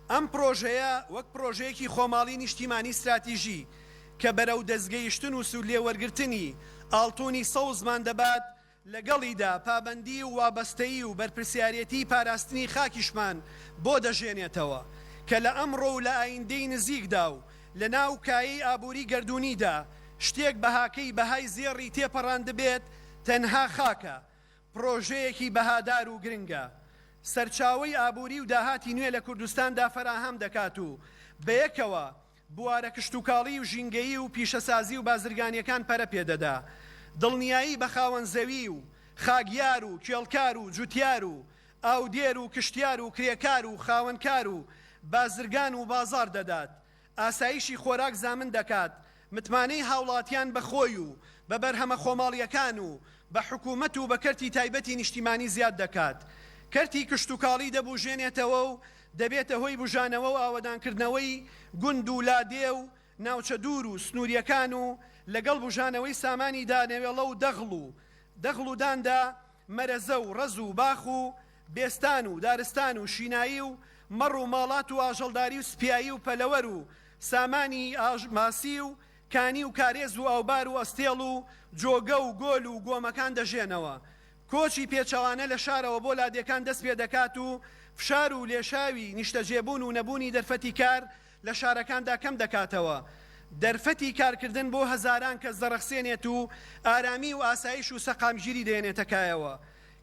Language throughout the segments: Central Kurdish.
ئەم پڕۆژەیە وەک پڕۆژەیەکی خۆماڵی نیشتیمانی ستراتیژی کە بەرەو دەستگەیشتن و سوودلێوەرگرتنی ئاڵتونی سەوزمان دەبات، لەگەڵیدا پابەندی و وابەستەیی و بەرپرسیارێتیی پاراستنی خاکیشمان بۆ دەژێنێتەوە کە لە ئەمڕۆ و لە ئایندەی نزیکدا و لەناو کایەی ئابووری گەردوونیدا شتێک بەهاکەی بەهای زێڕی تێپەڕاندبێت تەنها خاکە پڕۆژەیەکی بەهادار و گرنگە، سەرچاوەی ئابووری و داهاتی نوێ لە کوردستاندا فەراهەم دەکات و بەیەکەوە بوارە کشتوکاڵی و ژینگەیی و پیشەسازی و بازرگانییەکان پەرە پێ دەدا. دڵنیایی بە خاوەن زەوی و خاکیار و کێڵکار و جوتیار و ئاودێر و کشتیار و کرێکار و خاوەنکار و بازرگان وبازاڕ دەدات. ئاسایشی خۆراک زامن دەکات متمانەی هاوڵاتیان بە خۆی و بە بەرهەمە خۆماڵییەکان و بە حکوومەت و بە کەرتی تایبەتی نیشتیمانی زیاد دەکات، کەرتی کشتوکاڵی دەبووژێنێتەوە و دەبێتە هۆی بووژانەوە و ئاوەدانکردنەوەی گوند و لادێ و ناوچە دوور و سنوورییەکان و لەگەڵ بووژانەوەی سامانی دانەوێڵە و دەغڵ و داندا. مەرەزە و ڕەز و باخ و بێستان و دارستان و شینایی و مەڕ و ماڵات و ئاژەڵداری و سپیایی و پەلەوەر و سامانی ئاژ ماسی و کانی و کارێز و ئاوبار و ئەستێڵ و جۆگە و گۆل و گۆمەکان دەژێنەوە. کۆچی پێچەوانە لە شارەوە بۆ لادێکان دەست پێ دەکات و فشار و لێشاوی نیشتەجێبوون و نەبوونی دەرفەتی کار لە شارەکاندا کەم دەکاتەوە، دەرفەتی کارکردن بۆ هەزاران کەس دەڕەخسێنێت و ئارامی و ئاسایش و سەقامگیری دەێنێتە کایەوە.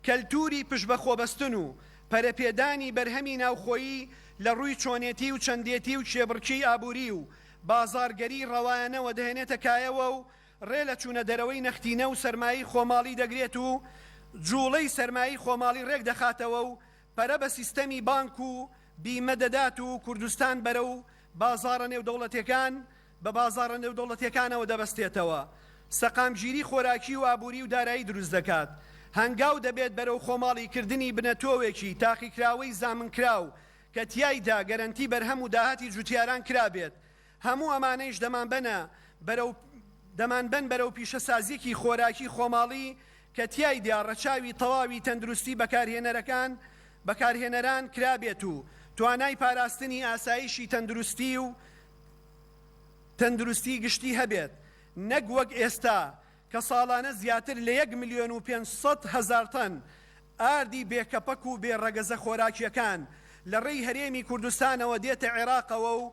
کەلتووری پشتبەخۆبەستن و پەرەپێدانی بەرهەمی ناوخۆیی لە ڕووی چۆنێتی و چەندێتی و کێبڕکێی ئابووری و بازاڕگەریی ڕەوایانەوە دەێنێتە کایەوە و ڕێ لە چوونە دەرەوەی نەختینە و سەرمایەی خۆماڵی دەگرێت و جووڵەی سەرمایەی خۆماڵی ڕێک دەخاتەوە و پەرە بە سیستەمی بانک و بیمە دەدات و کوردستان بەرەو بازاڕە نێودەوڵەتێکان بە بازاڕە نێودەوڵەتێکانەوە دەبەستێتەوە سەقامگیری خۆراکی و ئابوری و دارایی دروست دەکات هەنگاو دەبێت بەرەو خۆماڵی کردنی بنەتۆوێکی تاقیکراوەی زامنکراو کە تیایدا گەرەنتی بەرهەم و داهاتی جوتیاران کرابێت هەموو ئەمانەیش دەمانبەنە بەرەو دەمانبەن بەرەو پیشەسازیەکی خۆراکی خۆماڵی کە تیایدا ڕەچاوی تەواوی تەندروستی بەکارهێنەرەکان بەکارهێنەران کرابێت و توانای پاراستنی ئاسایشی تەندروستی و تەندروستی گشتی هەبێت نەک وەک ئێستا کە ساڵانە زیاتر لە یەک ملیۆن و پێنج سەد هەزار تەن ئاردی بێکەپەک و بێ ڕەگەزە خۆراکیەکان لە ڕێی هەرێمی کوردستانەوە دێتە عێراقەوە و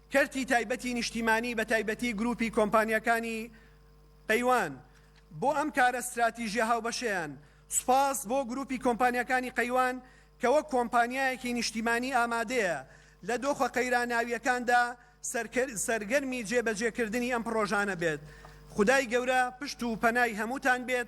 کەرتی تایبەتی نیشتیمانی بە تایبەتی گروپی کۆمپانیاکانی قەیوان بۆ ئەم کارە ستراتیژیە هاوبەشەیان، سوپاس بۆ گروپی کۆمپانیاکانی قەیوان کە وەک کۆمپانیایەکی نیشتیمانی ئامادەیە لە دۆخە قەیراناویەکاندا سەرگەرمی جێ بەجێ کردنی ئەم پڕۆژانە بێت خودای گەورە پشت و پەنای هەمووتان بێت